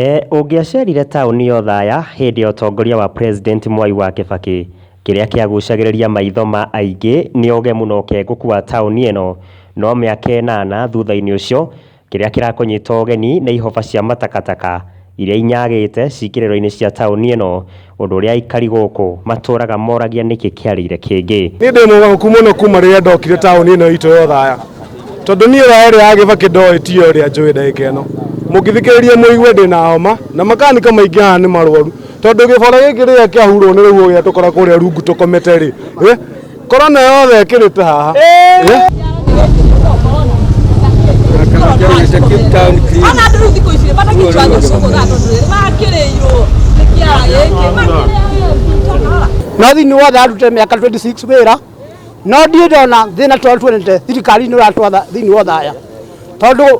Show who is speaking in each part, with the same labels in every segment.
Speaker 1: E, ũngĩacerire taũni ya Othaya hĩndĩ ya ũtongoria wa President Mwai wa Kĩbakĩ, kĩrĩa kĩagucagĩrĩria maitho ma aingĩ nĩ ũgemu na ũkenguku wa taũni ĩno, no mĩaka ĩnana thutha-inĩ ũcio, kĩrĩa kĩrakũnyita ũgeni nĩ ihũba cia matakataka iria inyagĩte cikĩrĩro-inĩ cia taũni ĩno. Ũndũ ũrĩa aikari gũkũ matũũraga moragia nĩkĩ kĩarĩire kĩngĩ. Niĩ ndĩ mũgarũku mũno kuma rĩrĩa ndokire taũni ĩno itũ ya Othaya, tondũ niĩ Othaya ĩrĩa ya Gĩbakĩ ndoĩ tiyo ĩrĩa njũĩ ndagĩka ĩno. Mũngĩthikĩrĩria mũigue ndĩna homa, na makanika maingĩ haha nĩ marwaru, tondũ gĩbara gĩkĩ rĩrĩa kĩahurwo nĩ rũhuho gĩatũkora kũrĩa rungu tũkomete-rĩ, Korona yothe ĩkĩrĩte haha. Ana andå rä u thikå ici bata kä cwanya cå gå thaa tondå rä bakä rä irwo nä kä ara gä kä makä rä a no thĩinĩ wothe arute mĩaka 26 wĩra no ndiĩ ndona thĩna tondũ tuonete thirikari-inĩ ũratwatha thĩinĩ wa thaya tondũ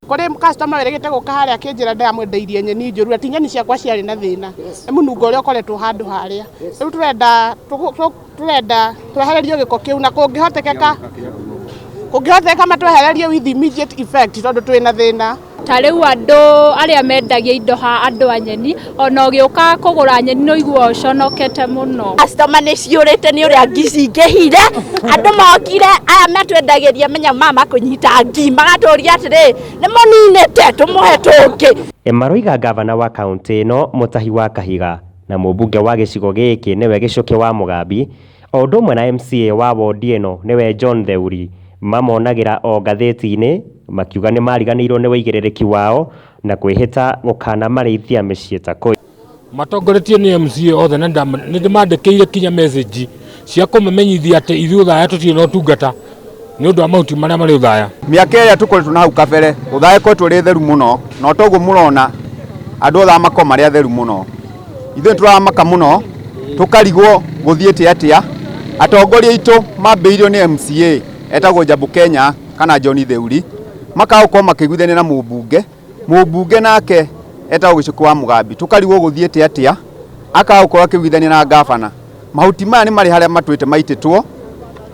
Speaker 1: kũrĩ customer wĩrĩgĩte gũka harĩa akĩnjĩra ndamwendeirie nyeni njũru ati nyeni ciakwa ciarĩ na thĩna nĩ mũnungo ũrĩa ũkoretwo handũ harĩa rĩu tũrenda tũgũ- tũ- tũrenda twehererio gĩko kĩu na kũngĩhotekeka kũngĩhotekeka matwehererie with immediate effect tondũ twĩ na thĩna ta rĩu andũ arĩa mendagia indo ha andũ a nyeni ona ũgĩũka kũgũra nyeni nĩ ũiguaga ũconokete mũno customer nĩ ciũrĩte nĩ ũrĩa ngi cingĩhire andũ mokire aya metwendagĩria menya maya makũnyita ngi magatũria atĩrĩ nĩ mũninĩte tũmũhe tũngĩ E, Maroiga ngavana wa kaũntĩ ĩno Mũtahi wa Kahiga na mũmbunge wa gĩcigo gĩkĩ nĩwe Gĩchũkĩ wa Mũgambi o ũndũ ũmwe na MCA wa wondi ĩno nĩwe John Theuri mamonagĩra o ngathĩti-inĩ makiuga nĩmariganĩirwo nĩ wĩigĩrĩrĩki wao Na kwĩhĩta gũkanamarĩithia mĩciĩ ta kũi. Matongoretio nĩ MCA othe na nĩndĩmandĩkĩire kinya message cia kũmamenyithia atĩ ithuĩ Uthaya tũtirĩ na ũtungata nĩ ũndũ wa mahuti marĩa marĩ Uthaya. Mĩaka ĩrĩa tũkoretwo na hau kabere, Uthaya ĩkoretwo ĩrĩ theru mũno na o ta ũguo mũrona andũ othe aya makoragwo marĩ atheru mũno. Ithuĩ nĩtũramaka mũno tũkarigwo gũthiĩte atĩa, atongoria aitũ mambĩrĩirio nĩ MCA etagwo Njambu Kenya. kana John Theuri makaga gũkorwo makĩiguithania na mũmbunge, mũmbunge nake etagwo Gĩcũkũ wa Mũgambi, tũkarigwo gũthiĩte atĩa, akaga gũkorwo akĩiguithania na ngabana. Mahuti maya nĩ marĩ harĩa matwĩte maitĩtwo,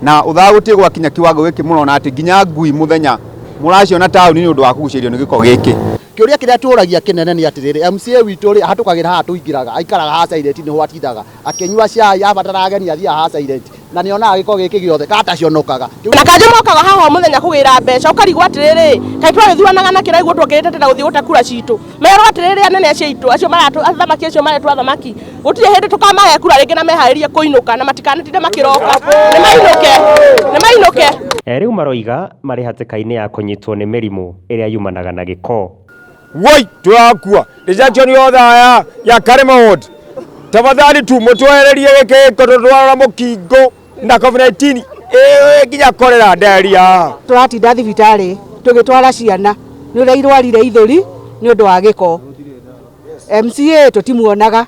Speaker 1: na ũthaga gũtirĩ gwakinya kiwango gĩkĩ mũrona atĩ nginya ngui mũthenya mũraciona taũni nĩ ũndũ wa kũgucĩrĩrio nĩ gĩko gĩkĩ. Kĩũria kĩrĩa tũragia kĩnene nĩ atĩrĩrĩ, MCA witũ rĩ, ahatũkagĩra haha tũingĩraga, aikaraga haha silent nĩho atindaga. Akĩnyua cai, abatara ageni athiaga ha silent. Na nĩ onaga gĩko gĩkĩ gĩothe ka atacionokaga. Kĩu. Na kanjũ mokaga haha o mũthenya kũgĩra mbeca. Ũkarigwo atĩrĩrĩ, kaĩ twarĩthuanaga na kĩraigua ũguo tuokĩrĩte tene gũthiĩ gũte kura citũ? Merwo atĩrĩrĩ anene acio aitũ, acio maratũ, athamaki acio maretwo athamaki, gũtirĩ hĩndĩ tũkamahe kura rĩngĩ na meharĩrie kũinũka na matikanatinde makĩroka. Nĩ mainũke. Nĩ mainũke. Rĩu maroiga marĩ hatĩka-inĩ ya kũnyitwo nĩ mĩrimũ ĩrĩa yumanaga na gĩko. Woi, twakua rejection yothe ya ya Karema Ward. Tafadhali tu mutwererie giki giko tutwarora mukingo na COVID-19 eh nginya korera ndaria. tũratinda thibitarĩ tũgĩtwara ciana nĩ ũrĩa irwarire ithũri nĩ ũndũ wa gĩko mca tũtimuonaga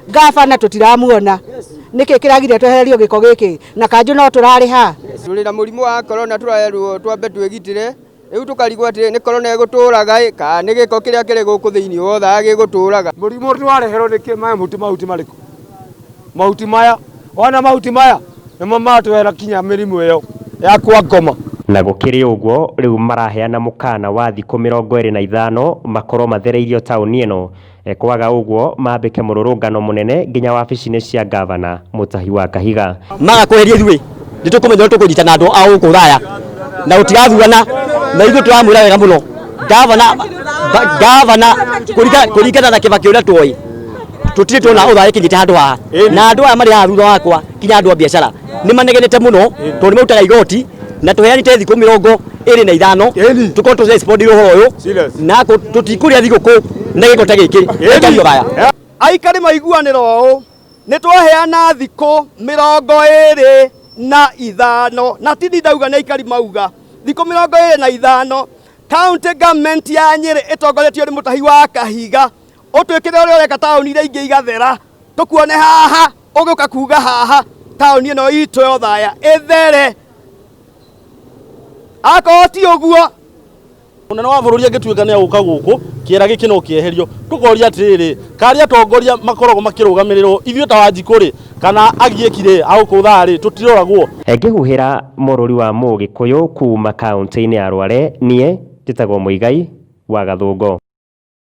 Speaker 1: ngabana tũtiramuona nĩkĩ kĩragire twehererio gĩko gĩkĩ na kanjũ no tũrarĩha Tũrĩ na mũrimũ wa korona tũrerwo twambe twĩgitĩre Rĩu tũkarigwo atĩrĩ, nĩ korona ĩgũtũũraga-ĩ, kana nĩ gĩko kĩrĩa kĩrĩ gũkũ thĩinĩ wothaga gĩgũtũũraga? Mũrimũ ũrĩa wareherwo nĩ kĩ? Maya mahuti mahuti marĩkũ? Mahuti maya. Wona mahuti maya, nĩmo maratũrehera kinya mĩrimũ ĩyo ya kwa ngoma. Na gũkĩrĩ ũguo, rĩu maraheana mũkaana wa thikũ mĩrongo ĩrĩ na ithano makorwo mathereirio taũni ĩno Kwaga ũguo mambĩke mũrũrũngano mũnene nginya wabici-inĩ cia Ngavana Mũtahi wa Kahiga. Maga kweheria ithuĩ nĩ tũkũmenya ũrĩa tũkũnyita na andũ a gũkũ Rũraya na gũtigathurana na ithuĩ tũramwĩra wega mũno Ngavana Ngavana kũringa- kũringana na Kĩbakĩ ũrĩa tuoĩ tũtirĩ tuona ũthaĩkinyĩte handũ haha na andũ aya marĩ haha thutha wakwa nginya andũ a biacara nä manegenete må no tondå nä marutaga igoti na tå heanite thikå mä rongo ä rä na ithano Ĩni. tå korwo tå å horo å Serious. yå na tå tikå rä a thigå kå na gä ko ta gä kä Ĩni. gaya aikari maiguanĩro ũũ nĩ twaheana thikũ mĩrongo ĩrĩ na ithano na tindi ndauga nĩ aikari mauga thikũ mĩrongo ĩrĩ na ithano county government ya nyĩrĩ ĩtongoretio nĩ mũtahi wa kahiga ũtwĩkĩre ũrĩa ũreka taũni iria ingĩ igathera tũkuone haha ũgĩũka kuga haha taũni ĩno itũ yo thaya ĩthere akorwo ti ũguo munene wa bũrũri angĩtuĩka nĩ agũka gũkũ kĩera gĩkĩ no kĩeherio tũkoria atĩrĩrĩ karĩa atongoria makoragwo makĩrũgamĩrĩrwo ithuĩ ta wanjikũ rĩ kana agiĩki rĩ agũkũthaa rĩ tũtiroragwo Ngĩhuhĩra mũrũri wa Mũgĩkũyũ kuuma kaũntĩ-inĩ ya Rware, niĩ njĩtagwo Mũigai wa Gathũngũ.